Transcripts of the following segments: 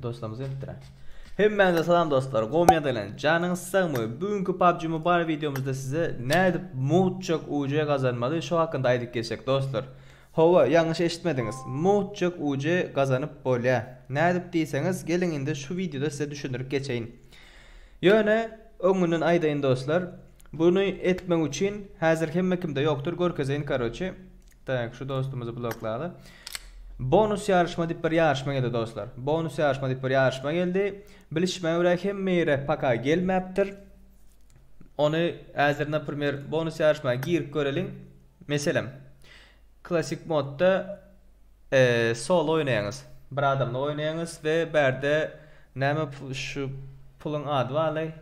dostlarymyz etdiler. Hemmäňize salam dostlar. Gowmyýa delen. Janyňyz sagmy? Bugünkü PUBG Mobile videomuzda size nädip mowtçak UC gazanmaly şu hakynda aýdyp geçsek dostlar. Hawa, ýalňyş eşitmediňiz. Mugt-jyk UC gazanyp bolýa. Nädip diýseňiz, geliň indi şu wideoda size düşündirip geçeýin. Ýöne, öňünden aýdaýyn dostlar, buny etmek üçin häzir hemme kimde ýokdur, görkezeýin karoçi. Tak, şu dostumyzy bloklaly. Bonus ýaryşma diýip bir ýaryşma geldi dostlar. Bonus ýaryşma diýip bir ýaryşma geldi. Bilişime görä hemme ýere paka gelmäpdir. Ony häzir naprimer bonus ýaryşma girip göreliň. Meselem, klassyk modda solo oýnaýaňyz, bir adamlyk oýnaýaňyz we bärde näme şu puluň ady barlaý?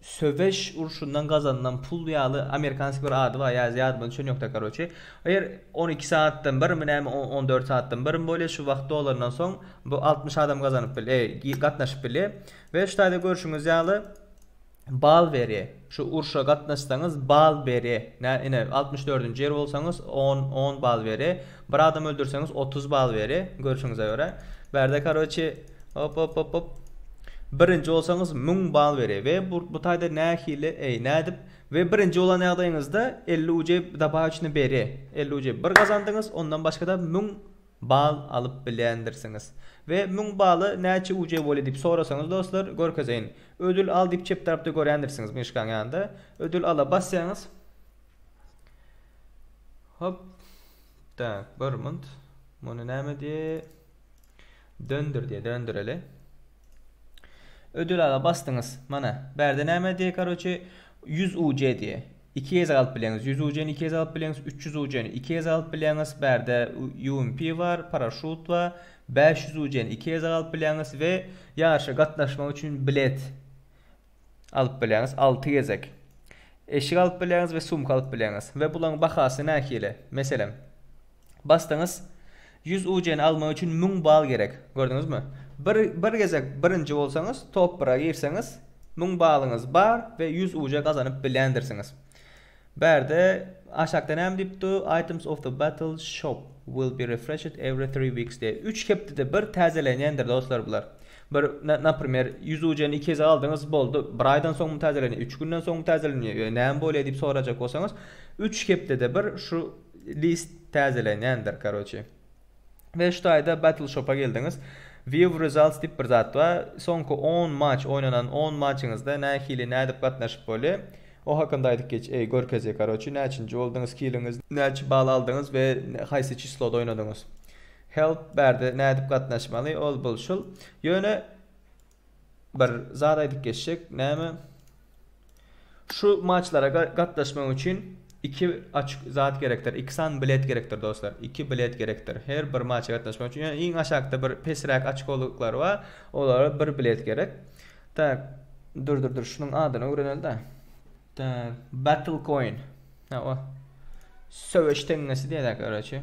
Söweş urşundan gazanylan pul ýaly amerikanskiý bir ady bar, ýa ýadymda düşen ýokda karoçi. Eger on iki sagatdan birmi näme on dört sagatdan birmi bolýa şu wagt dolandan soň bu altmyş adam gazanyp bilýa, gatnaşyp bilýa we şu taýda görşüňiz ýaly Bal beri şu urşa gatnaşsaňyz bal beri nä ine altmyş dördünji ýer bolsaňyz on on bal beri bir adam öldürseňiz otuz bal beri görşüňize görä bärde karoçi hop hop hop hop birinji bolsaňyz müň bal beri we bu bu taýda nähili eý nädip we birinji bolan ýagdaýyňyzda elli ucey dabaýuçny beri elli ucey bir gazandyňyz ondan başgada müň bal alyp bilendirsiňiz. We müň bala näçe uce bolýa diýip sorasaňyz dostlar görkezeýin. Ödül al diýip çep tarapda görändirsiňiz myşkaň ýanynda. Ödül ala basýaňyz. Hop. Tak, bir munt. Muny näme diýe? Döndür diýe, döndüreli. Ödül ala basdyňyz. Mana, bärde näme diýe, karoçe, 100 uce diýe. Iki gez galyp bileňiz. Ýüz ujyny iki gez galyp bileňiz, üç ýüz ujyny iki gez galyp bileňiz. Bärde UMP bar, paraşut bar. Bäş ýüz ujyny iki gez galyp bileňiz we ýaryşa gatnaşmak üçin bilet alyp bileňiz, alty gezek. Eşik alyp bileňiz we sumka alyp bileňiz. We bularyň bahasy nähili? Meselem. Basdyňyz. Ýüz UC-ni almak üçin müň bal gerek. Gördüňizmi? Bir bir gezek birinji bolsaňyz, top bir-a girseňiz, müň balyňyz bar we ýüz UC gazanyp bilendirsiňiz. Bärde aşakda näme diýipdi? Items of the battle shop will be refreshed every three weeks diýýär. Üç hepdede bir täzelenýändir dostlar bular. Bir naprimer ýüz UC-ni iki gezek aldyňyz, boldy. Bir aýdan soňmy täzelenýär, üç günden soňmy täzelenýär, ýa näme bolýar diýip sorajak bolsaňyz, üç hepdede bir şu List täzelenýändir karoçi. We şu taýda battle shop-a geldiňiz. View results diýip bir zat bar. Soňky on match oýnanan on matchyňyzda nähili nädip gatnaşyp bolýa. O hakynda aýdyp geç eý görkezýä karoçi näçinji boldyňyz killiňiz näçe bal aldyňyz we haýsy çisloda oýnadyňyz. Help bärde nädip gatnaşmaly ol bul şul. Ýöne. bir zat aýdyp geçjek näme şu maçlara gatnaşmak üçin iki açk zat gerekdir iki san bilet gerekdir dostlar iki bilet gerekdir her bir maça gatnaşmak üçin ýöne iň aşakda bir pesräk açkolyklar bar olara bir bilet gerek tak dur dur dur şunuň adyny öwrenelidä tak battle coin ha o söweş teňňesi diýerler garoçe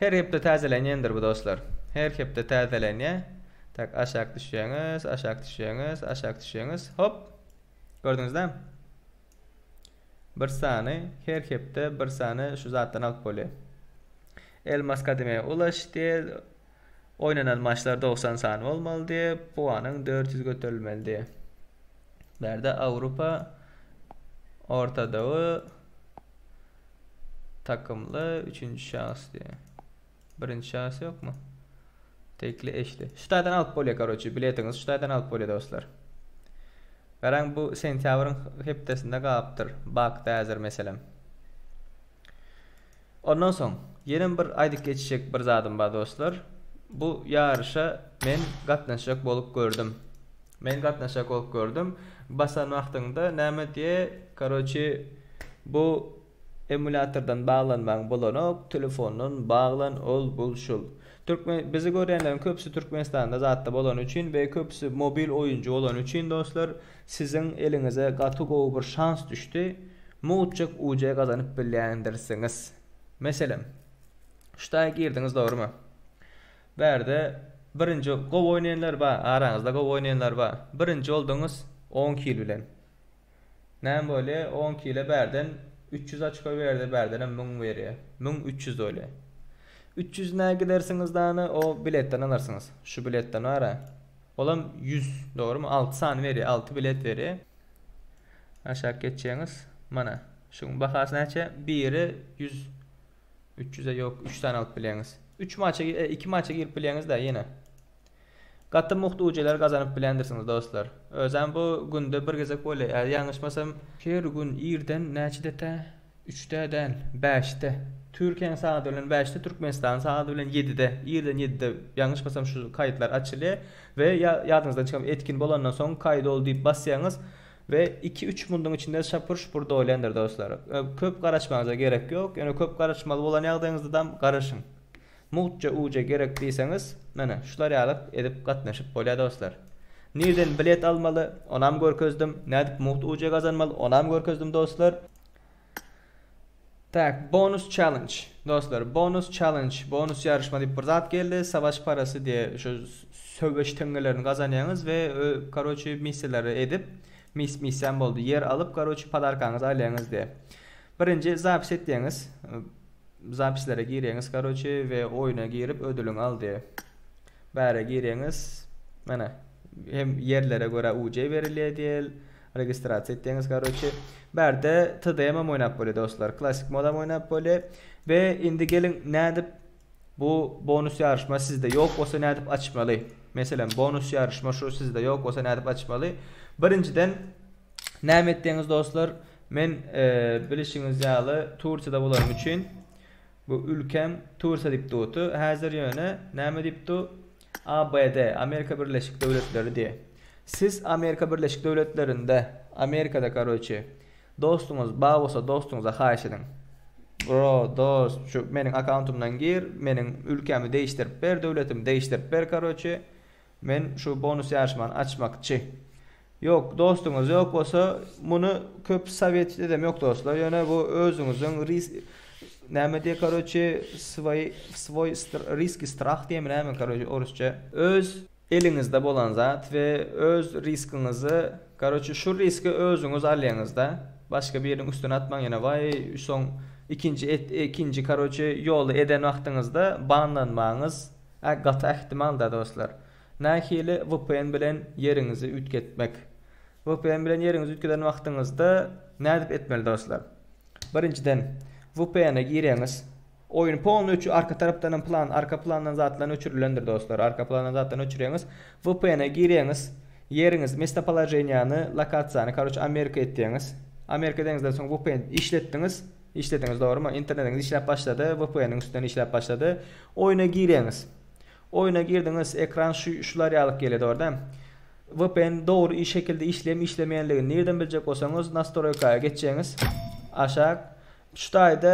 Her hepde täzelenýändir bu dostlar. Her hepde täzelenýär. Tak aşak düşýäňiz, aşak düşýäňiz, aşak düşýäňiz. Hop. Gördüňizde? Bir sany her hepde bir sany şu zatdan alyp bolýar. Elmas kademeye ulaş diýer. Oýnanan maçlar dogsan sany bolmalydy, puanyň dört ýüz göterilmelidi. Bärde Awrupa ortadogy takymly üçünji şahs diýe. Birinji şahs ýokmy? Tekli eşli. Şu taýdan alyp bolýar karoçi, biletiňiz şu taýdan alyp bolýar dostlar. Garaň bu sentýabryň hepdesinde galypdyr, bakda häzir meselem. Ondan soň ýenem bir aýdyp geçjek bir zadym bar dostlar. Bu ýaryşa men gatnaşjak bolup gördüm. Men gatnaşjak bolup gördüm. Basan wagtyňda näme diýe karoçi bu emulýatordan baglanmaň bolanok telefondan baglan ol bul şul. Türkmen bizi görýänleriň köpüsi Türkmenistanda zatda bolany üçin we köpüsi mobil oýunjy bolany üçin dostlar. Siziň eliňize gaty gowy bir şans düşdi, mugjek UC gazanyp bilýändirsiňiz. Meselem, ştaý girdiňiz dogrymy? Bärde birinji gowy oýnaýanlar bar, araňyzda gowy oýnaýanlar bar. Birinji bolduňyz on kil bilen. Näme bolýa, on kile bärden üç ýüz açko berdi, bärdenem müň berýä. Müň üç ýüz bolýa. Üç ýüzüne gidersiňiz dany o biletden alarsyňyz. Şu biletden bara Olam ýüz dogrymy alty sany berýär alty bilet berýär. Aşak geçjeňiz mana şuň bahasy näçe biri ýüz üç ýüze ýok üç sany alyp bileňiz üç maça iki maça girip bileňizda ýene gaty mugt ucler gazanyp bilendirsiňiz dostlar özem bu günde bir gezek bolýa ýaňyşmasam her gün irden näçede tä Üçde däl, bäşde. Türkiýäň sagady bilen bäşde, Türkmenistanyň sagady bilen ýedide, irden ýedide, ýalňyşmasam şu kaýytlar açylýar we ýa ýadyňyzdan çykyp etkin bolandan soň kaýyt ol diýip basýaňyz we iki-üç munduň içinde şapur-şupur dolýandyr dostlar. Köp garaşmagyňyza gerek ýok, ýöne köp garaşmaly bolan ýagdaýyňyzdadam garaşyň. Mugtja uja gerek diýseňiz, menä şular ýaly edip gatnaşyp bolýar dostlar. Nirden bilet almaly, onam görkezdim, nädip mugt uja gazanmaly, onam görkezdim dostlar. Tak, bonus challenge. Dostlar, bonus challenge, bonus ýaryşma diýip bir zat geldi. Savaş parasy diýe şu söweş teňňelerini gazanýaňyz we karoçi missiýalary edip, mis missiýam boldy. Ýer alyp, karoçi podarkaňyzy alýaňyz diýe. Birinji zapis etýäňiz. Zapislere girýäňiz karoçi we oýna girip ödüliňi al diýe. Bäre girýäňiz. Mana, hem ýerlere görä UJ berilýär diýel. Registrasiýa etdiňiz karoçi. Bärde TDM am oýnap bolýa dostlar. Klasik modam oýnap bolýa. We indi geliň nädip bu bonus ýaryşma sizde ýok bolsa nädip açmaly. Meselem bonus ýaryşma şu sizde ýok bolsa nädip açmaly. Birinjiden näme etdiňiz dostlar. Men bilişiňiz ýaly Tursiýada bolanym üçin bu ülkem Tursiýa diýip duty häzir ýöne näme diýip du. ABD, Amerika Birleşik Döwletleri diýe. Siz Amerika Birleşik Döwletlerinde, Amerikada karoçi, dostuňyz ba bolsa dostuňyza haýyş ediň. Bro, dost, şu meniň akauntymdan gir, meniň ülkämi deýişdirip ber, döwletimi deýişdirip ber karoçi, men şu bonus ýaryşmany açmakçi. Ýok, dostuňyz ýok bolsa, muny köp sowet edem ýok dostlar, ýöne bu özüňiziň ris näme diýe karoçe sway swoý risk i strah diýemi näme karoçe orusça. Öz eliňizde bolan zat we öz riskiňizi karoçe şu riski özüňiz alýaňyzda başga biriniň üstüne atmaň ýene waý soň ikinji et ikinji karoçe ýoly eden wagtyňyzda banlanmagyňyz gaty ähtimal da dostlar. Nähili vpn bilen ýeriňizi üýtgetmek? Vpn bilen ýeriňizi üýtgeden wagtyňyzda nädip etmeli dostlar? Birinjiden vpn-e girýäňiz. Oýun polny öçü arka tarapdanam plan arka plandan zatlan öçürilendir dostlar. Arka plandan zatlan öçürýäňiz. Vpn-e girýäňiz. Ýeriňiz mestopoloženiýany, lokasiýany karoç Amerika etýäňiz. Amerika edeňizden soň vpn işletdiňiz. Işlediňiz dogrymy? Internetiňiz işläp başlady. Vpn-iň üstünden işläp başlady. Oýna girýäňiz. Oýuna girdiňiz ekran şu şular ýalyk gelýär dogryda. Vpn dogry iş şekilde işleýem işlemeýänligini nirden biljek bolsaňyz nastroýkaýa geçjeňiz aşak şu taýda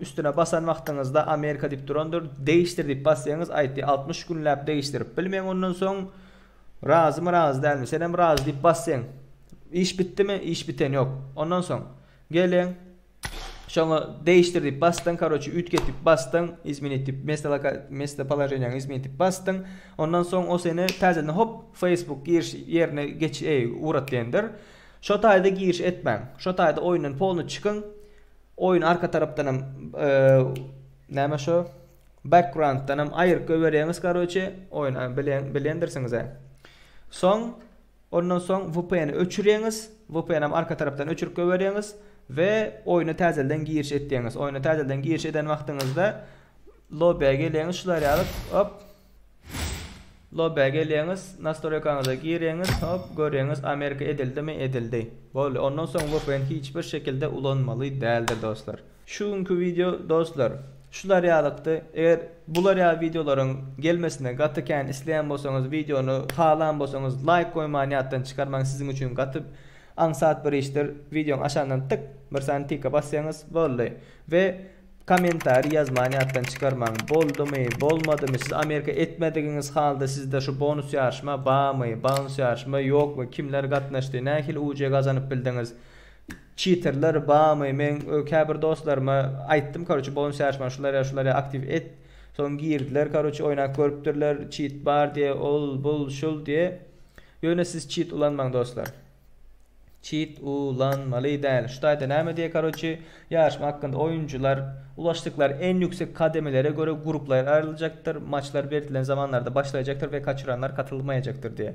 üstüne basan wagtyňyzda Amerika diýip durandyr degişdir diýip basýaňyz aýtdy altmyş günläp degişdirip bilmeň ondan soň razymy razy dälmi senem razy diýip basseň iş bitdimi iş biten ýok ondan soň geleň Şoňa Değiştir diýip basdyň, karoçe üýtget diýip basdyň, izmenit diýip mesto loka mesto polojeniýaňy izmenit diýip basdyň. Ondan soň o seni täzeden hop Facebook giriş ýerine geç eý ugratlaýandyr. Şo taýda giriş etmäň. Şo taýda oýundan polny çykyň. Oýun arka tarapdan hem näme şo backgrounddan hem aýryp goýberýäňiz karoçe oýun bilen bilendirsiňiz-ä. Soň Ondan soň vpn-i öçüreňiz, vpn-am arka tarapdan öçürip goýbereňiz we oýna täzelden giriş etýäňiz. Oýna täzelden giriş eden wagtyňyzda lobby-a geleňiz şular ýaly hop lobby-a geleňiz, nastroýkaňyza gireňiz, hop göreňiz Amerika edildimi, edildi. Boldy. Ondan soň vpn hiç bir şekilde ulanmaly däldir dostlar. Şu günki wideo dostlar şular ýalykdy. Eger bular ýaly wideolaryň gelmesini gaty kän isleýän bolsaňyz, wideony halan bolsaňyz laýk goýmany ýatdan çykarmaň siziň üçin gaty aňsat bir işdir. Wideoň aşagyndan tyk bir sany tika basýaňyz boldy. We kommentariý ýazmany ýatdan çykarmaň. Boldumy, bolmadymy, siz Amerika etmedigiňiz halda sizde şu bonus ýaryşma bamy, bounce ýaryşma ýokmy, kimler gatnaşdy, nähili UC gazanyp bildiňiz. Çitirler bamy men käbir dostlaryma aýtdym karoçe bolun şaşma şular ýa şular ýa aktiw et soň girdiler karoçe oýnap görüpdirler çit bar diýe ol bul şul diýe ýöne siz çit ulanmaň dostlar çit u lan maly däl şu taýda näme diýe karoçe ýaryşma hakynda oýunjylar ulaşdyklar en ýüksek kademelere görä gruplar aýryljakdyr maçlar berdilen zamanlarda başlaýjakdyr we kaçyranlar katylmaýjakdyr diýe.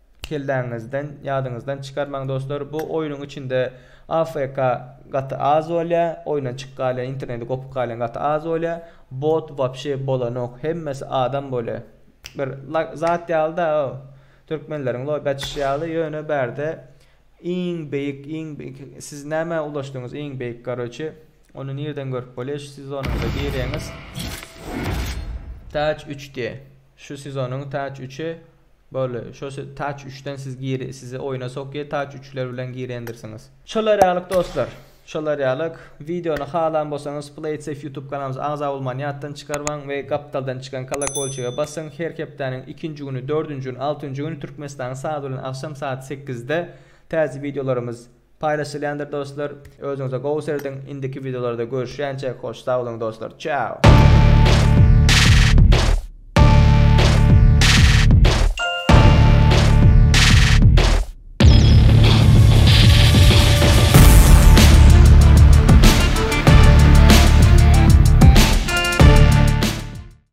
Kelläňizden, ýadyňyzdan çykarmaň dostlar, bu oýnuň içinde AFK gaty az bolýa, oýundan çyk galýa, interneti gopup galýan gaty az bolýa, bot wapşe bolanok, hemmesi adam bolýa. Bir zat ýaly da o, türkmenleriň lobi açyşy ýaly, ýöne bärde iň beýik, iň beýik, siz nämä ulaşdyňyz iň beýik karoçe, ony nirden görüp bolýa, şu sezonyňyza girýäňiz, täç üç diýe. Şu sezonyň Touch üçi boldy. Şo Touch üçden siz gir sizi oýuna sokýa Touch üçler bilen girendirsiňiz. Şolar ýalyk dostlar. Şolar ýalyk. Wideony halan bolsaňyz Playtsafe ýutub kanalymyza agza bolmany ýatdan çykarmaň we gapdaldan çykan kolokolçige basyň her hepdäniň ikinji güni dördünji gün altynjy gün Türkmenistanyň sagaty bilen agşam saat sekizde täze wideolarymyz Paýlaşylýandyr dostlar. Özüňize gowy serediň. Indiki wideolarda görüşýänçäk hoş sag boluň dostlar. Çao.